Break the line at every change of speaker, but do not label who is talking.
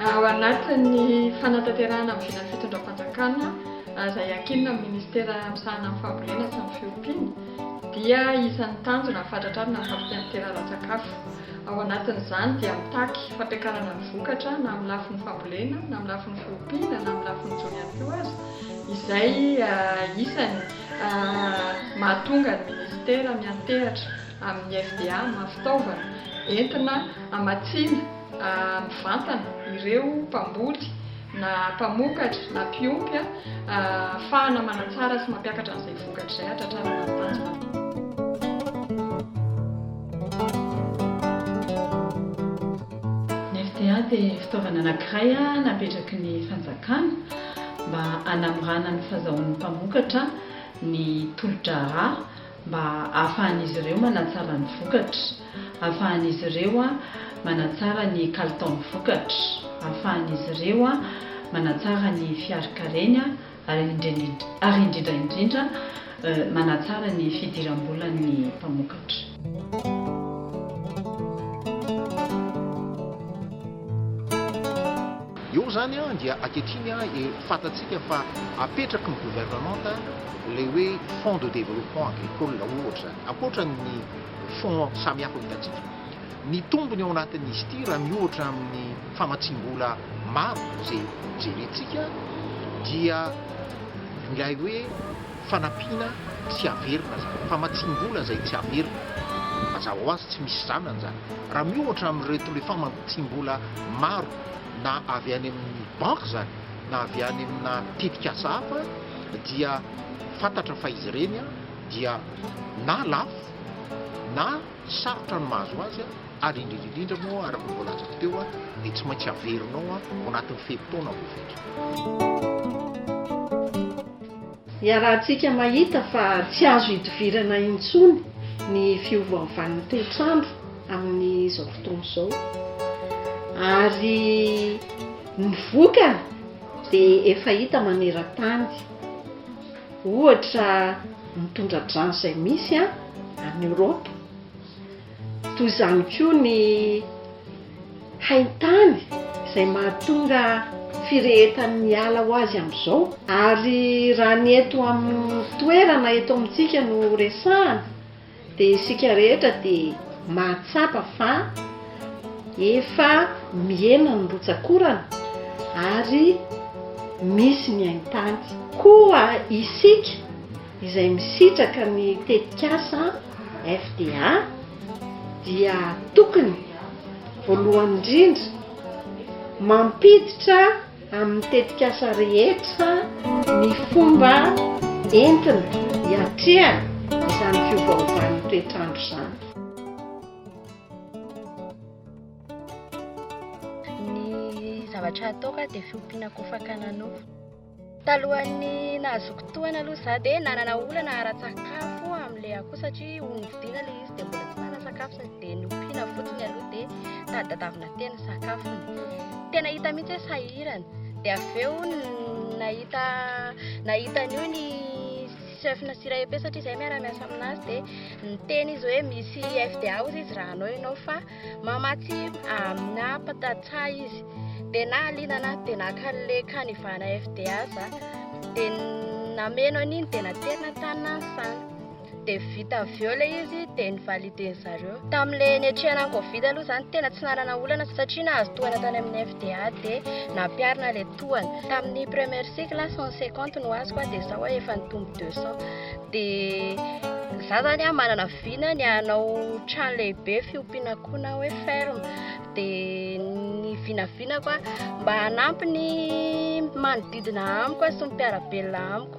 Ao anatin'ny fanatanterahana ny vinan'ny fitondram-panjakana izay ankinina amin'ny minisitera misahana ny fambolena sy ny fiompiana dia isan'ny tanjona ny fahatratrarana ny fampitaham-pitera ara-tsakafo. Ao anatin'izany dia mitaky fampiakarana ny vokatra na amin'ny lafiny fambolena na amin'ny lafiny fiompiana na amin'ny lafiny jono ihany koa aza izay isan'ny mahatonga ny minisitera miantehatra amin'ny FDA amin'ny maha fitaovana entina hamatsiana mivantana ireo mpamboly na mpamokatra na mpiompy ahafahana manatsara sy mampiakatra an'izay vokatra izay hatratrarana ny tanjona. Ny FDA dia fitaovana anankiray napetraky ny fanjakana mba hanamorana ny fahazahoan'ny mpamokatra ny tolo-draharaha mba ahafahan'izy ireo manatsara ny vokatra, ahafahan'izy ireo manatsara ny kalitaon'ny vokatra, ahafahan'izy ireo manatsara ny fiarikareny ary indrindra indrindra manatsara ny fidiram-bolan'ny mpamokatra. Eo izany dia ankehitriny fantatsika fa apetraky ny governemanta ilay hoe fonds de développement agricole ohatra izany, ankoatra ny fonds samihafa hitantsika. Ny tombony ao anatin'izy ity raha miohatra amin'ny famatsiam-bola maro izay jerentsika dia ilay hoe fanampiana tsy averina izany, famatsiam-bola izay tsy averina. Mazava ho azy tsy misy zanany izany raha miohatra amin'ireto le famatsiam-bola maro. na avy any amin'ny banky izany na avy any amina tetikasa hafa dia fantatra fa izy ireny dia na lafo na sarotra ny mahazo azy ary indrindra indrindra moa araka ny voalazako teo dia tsy maintsy averinao ao anatin'ny fe-potoana voafetra. Iarahantsika mahita fa tsy azo idivirana intsony ny fiovaovan'ny toetr'andro. amin'izao fotoana izao ary ny vokany dia efa hita maneran-tany ohatra ny tondra-drano izay misy a any Eoropa toy izany koa ny haintany izay mahatonga firehetan'ny ala ho azy amin'izao ary raha ny eto amin'ny toerana eto amintsika no resahana Dia isika rehetra dia mahatsapa fa efa mihena ny rotsak'orana ary misy ny haintany. Koa isika izay misitraka ny tetikasa FDA dia tokony voalohany indrindra mampiditra. amin'ny tetikasa rehetra ny fomba entina hiatrehana izany fiovaovan'ny toetr'andro izany. Ny zavatra hataoko aho dia fiompiana kofaka nanofy. Talohan'ny nahazoako tohana aloha izaho dia nanana olana ara-tsakafo amin'ilay akoho satria ony vidiana ilay izy. dia mbola tsy nanasakafo sady dia nompiana fotsiny aloha dia tadadavina tena sakafony tena hita mihitsy hoe sahirana dia avy eo nahita nahita an'io ny chef na sira epe satria izay miara-miasa aminazy dia niteny izy hoe misy fda ozy izy raha anao ianao fa mamatsy amina patatsa izy dia na alina na dia nakan'le kanivana fda za dia nameno an'iny dia naterina tany na ny sana dia vita avy eo ilay izy dia nivaliden'ny zareo. Tamin'ilay niatrehana ny Covid aloha izany tena tsy nanana olana satria nahazo tohana tany amin'ny FDA dia nampiharina ilay tohana. Tamin'ny première cycle aho 150 no azoko dia izao aho efa nitombo 200. Dia za zany aho manana vina ny hanao trano lehibe fiompiana akoho na hoe ferme dia ny vinavinako mba hanampy ny manodidina amiko sy ny mpiara-belona amiko.